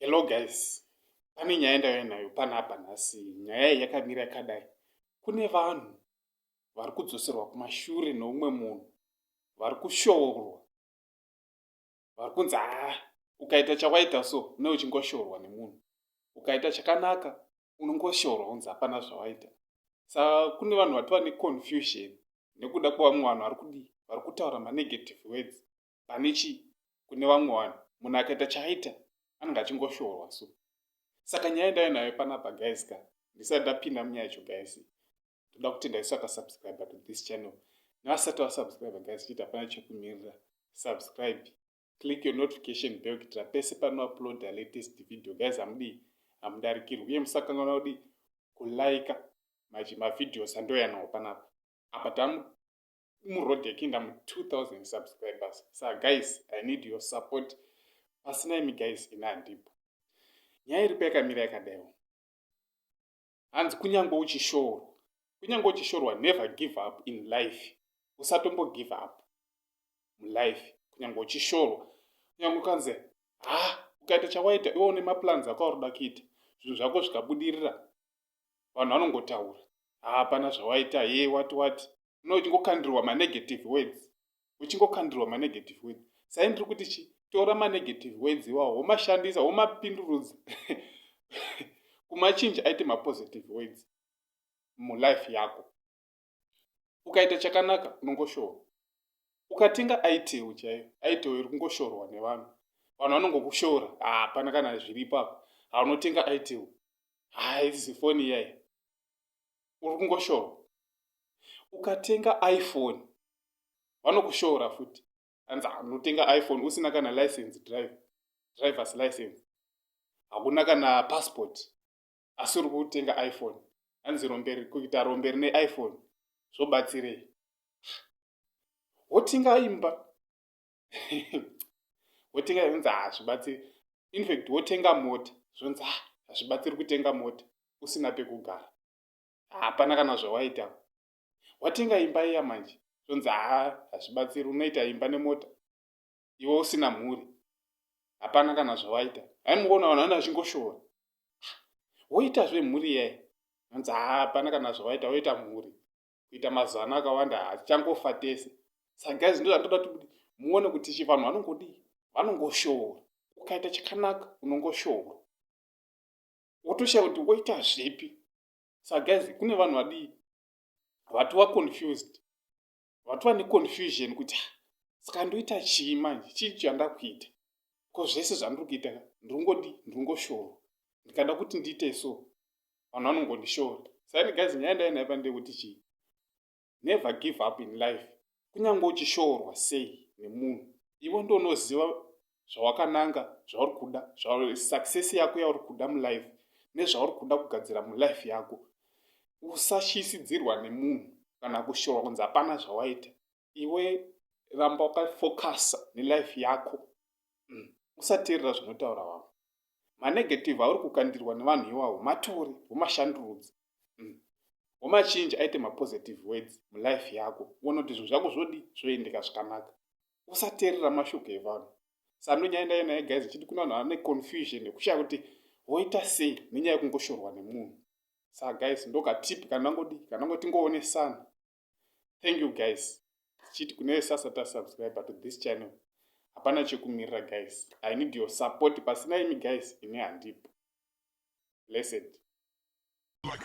Hello guys, pane nyaya ndauya nayo panapa nhasi. Nyaya iyi yakamira yakadai. Kune vanhu vari kudzoserwa kumashure neumwe munhu vari kushoorwa vari kunzi haa ukaita chawaita so ne uchingoshorwa nemunhu ukaita chakanaka unongoshorwa unzi hapana zvawaita sa kune vanhu vatova neconfusion nekuda kwevamwe vanhu vari kudii vari kutaura manegative words pane chii kune vamwe vanhu munhu akaita chaaita anenge achingoshorwa so saka nyaya ndave nayo panapa guys ka ndisati ndapinda munyaya yacho guys toda kutenda isu akasubscribe to this channel nevasati vasubscribe guys chiti hapana chekumirira subscribe click your notification bell kuitira pese panoupload a latest video guys hamudii hamudarikirwi uye musakanganwa kudi kulaika maji mavideos andoyanawo panapa apa tamu muroad yekinda mu 2000 subscribers sa guys i need your support pasina imi guys ina handipo nyaya iripo yakamira yakadaiwo Hanzi kunyangwe uchishorwa. Kunyangwe uchishorwa never give up in life. Usatombo give up mulife kunyangwe uchishorwa. Kunyangwe ukanzi ha ukaita chawaita iwe une maplans ako auroda kuita zvinhu zvako zvikabudirira vanhu vanongotaura hapana zvawaita ye wati wati no uchingokandirwa manegative words uchingokandirwa manegative words sai ndiri kuti chi tora manegative words iwawo womashandisa womapindurudza kumachinji aite mapositive words mulife yako ukaita chakanaka unongoshorwa ukatenga aitewo chaiyo aitewo iri kungoshorwa nevanhu vanhu vanongokushora hapana kana zviripo apa haunotenga aitewo haisi foni iyayi uri kungoshorwa ukatenga iphone vanokushora futi anzi anotenga ah, iphone usina kana license drive drivers license hakuna kana passport asi uri kutenga iphone anzi romberi kuita romberi neiphone zvobatsirei wotenga imba wotenga zvonzi hazvibatsiri infact wotenga mota zvonzi ah, hazvibatsiri kutenga mota usina pekugara hapana kana zvawaita watenga imba iya manje zvonzi haa hazvibatsiri unoita imba nemota iwe usina mhuri hapana kana zvawaita aimuona vanhu vana vachingoshora woitazve mhuri yai anzi haa hapana kana zvawaita woita mhuri kuita mazano akawanda hatichangofa tese sa guys ndo zvatoda kuti muone kuti chivanhu vanongodii vanongoshora ukaita chakanaka unongoshora wotoshaya kuti woita zvipi sa guys kune vanhu vadii vatova confused vatova neconfusion kuti ah, saka ndoita chii manje chii chandakuita ko zvese zvandiri kuita ndiri ngodii ndiri ngoshora ndikada kuti ndiite so vanhu vanongondishora saini guys nyaya ndainaiva ndekuti chii never give up in life kunyange uchishorwa sei nemunhu iwe ndonoziva zvawakananga zvauri kuda success yako yauri kuda mulife nezvauri kuda kugadzira mulife yako usashisidzirwa nemunhu kana kushorwa kunzi hapana zvawaita iwe ramba wakafocusa nelife yako mm. usateerera zvinotaura vamwe manegative auri kukandirwa nevanhu iwawo matore womashandurudzi mm. womachinji aite mapositive words mulife yako uone kuti zvinhu zvako zvodi zvoendeka zvakanaka usateerera mashoko evanhu sando nyaya ndaiyo naye guys ichiti kuna vanhu vane confusion yekushaya kuti woita sei nenyaya yekungoshorwa nemunhu saa guys ndokatipi kana ngodi kana ngoti ngoone sana thank you guys tichiti kune vese asati asubscribe to this channel hapana chekumirira guys i need your support pasina imi guys ini handipo blessed like